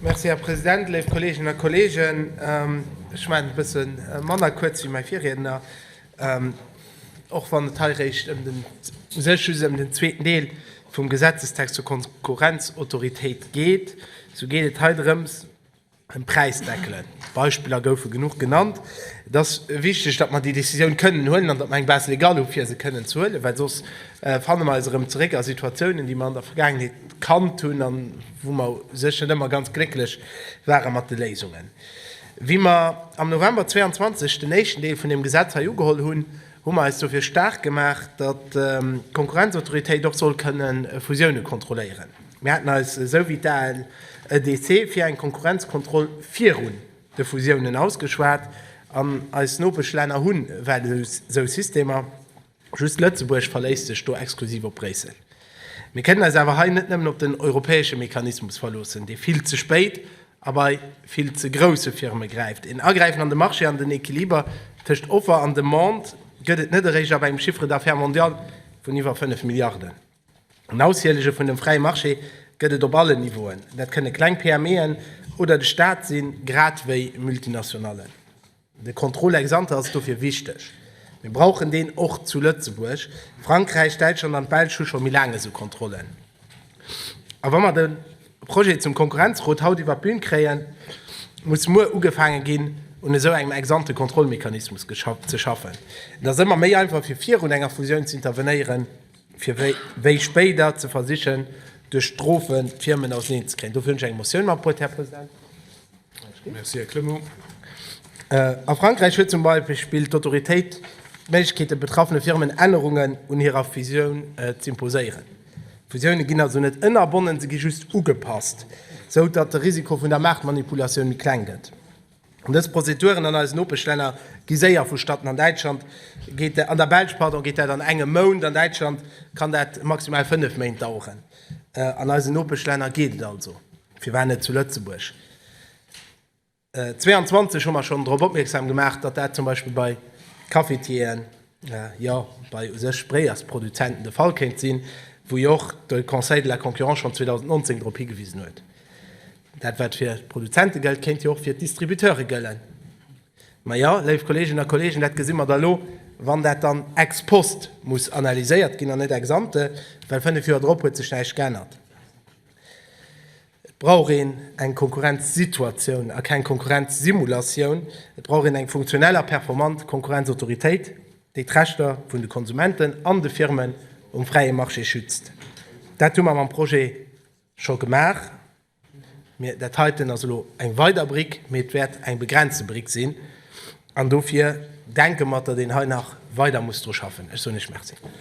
Merci, Här President. Léif Kolleeginnen a Kolleegen, ech maachen et e bësse manner kuerz wéi mäi Virriedner, och wann et hei réischt ëm den, u sech just ëm den zweeten Deel vum Gesetzestext zur Konkurrenzautoritéit geet, esou geet et hei drëms, ëm Präisdeckelen. D'Beispiller goufe genuch genannt. Et ass wichteg, datt mer déi Décisioun kënnen huelen an datt mer eng Base légale hu fir se kënnen ze huelen, well soss fanne mer eis erëm zeréck a Situatiounen, déi mer an der Vergaangenheet kannt hunn, wou mer séch net ëmmer ganz glécklech ware mat de Léisungen. Wéi mer am November 22 den éischten Deel vun deem Gesetz hei ugeholl hunn, hu mer eis dofir staark gemaach, datt d'Konkurrenzautoritéit och soll kënne Fusioune kontrolléieren. Mir haten eis, esou wéi d'ALEDC, fir eng Konkurrenzkontroll virun de Fusiounen ausgeschwat an eis Nopeschlänner hu well esou Systemer. Just Lëtzebuerg verléisst sech do exklusiv op Bréissel. Mir kënnen eis awer hei net nëmmen op den europäesche Mechanismus verloossen, dee vill ze spéit a bei vill ze grousse Firme gräift. Een Agräifen an de Marché an den Equiliber tëscht Offer an Demande gëtt et net eréischt ab engem Chiffre d'affaires mondial vun iwwer 5 Milliarden. En Aushielege vun dem fräie Marché gëtt et op allen Niveauen, dat kënne kleng PMEen oder de Staat sinn, grad wéi Multinationallen. De Contrôle ex ante ass dofir wichteg. Mir brauchen deen och zu Lëtzebuerg. Frankräich, Däitschland an d'Belsch hu scho méi laang esou Kontrollen. A wa mer de Projet zum Konkurrenzcode haut iwwer d'Bün kréien, muss muer ugefaange ginn, un esou engem ex ante Kontrollmechanismus ze schaffen. Et ass ëmmer méi einfach, fir virun enger Fusioun ze intervenéieren. fir wéi spéider ze versichen, duerch Strofe d'Firmen auserneen ze kréien. Dofir hunn ech eng Motioun magepuert, Här President. Merci, Här Clement. A Frankräich huet zum Beispill d'Autoritéit d'Méiglechkeet, de betraffene Firmen Ännerungen un hirer Fusioun z'imposéieren. Fusioune ginn also net ënnerbonnen, se gi just ugepasst, sou datt de Risiko vun der Maartmanipulatioun méi kleng gëtt. Dës Prozeduren an eisen Nopeschlänner gi séier vu Statten. An Däitschland geet, an der Belsch, pardon, geet dat an engem Mount. An Däitschland kann dat maximal fënnef Méint daueren. An eisen Nopeschlänner geet et also, firwat net zu Lëtzebuerg? 22 hu mer schonn drop opmierksam gemaach, datt dat zum Beispill bei Cafetieren, jo bei u sech Bréiersproduzenten de Fall kéint sinn, wou jo och de Conseil de la Concurrence schonn 2019 drop higewisen huet. Dat wat fir d'Produzente gëllt, kéint jo och fir d'Distributeure gëllen. Mä jo, léif Kolleeginnen a Kolleegen, dat gesi mer da elo, wann dat dann ex post muss analyséiert ginn an net ex ante, well fënnef Joer drop huet sech näischt geännert. Et brauch een eng Konkurrenzsituatioun a keng Konkurrenzsimulatioun. Et brauch een eng funktionell a performant Konkurrenzautoritéit, déi d'Rechter vun de Konsumenten an de Firmen um fräie Marché schützt. Dat hu mer mam Projet scho gemaach. Mee dat heiten ass elo eng weider Brick, mee et wäert eng begrenzte Brick sinn. An dofir denke mer, datt een hei nach weider muss dru schaffen. Ech soen Iech Merci.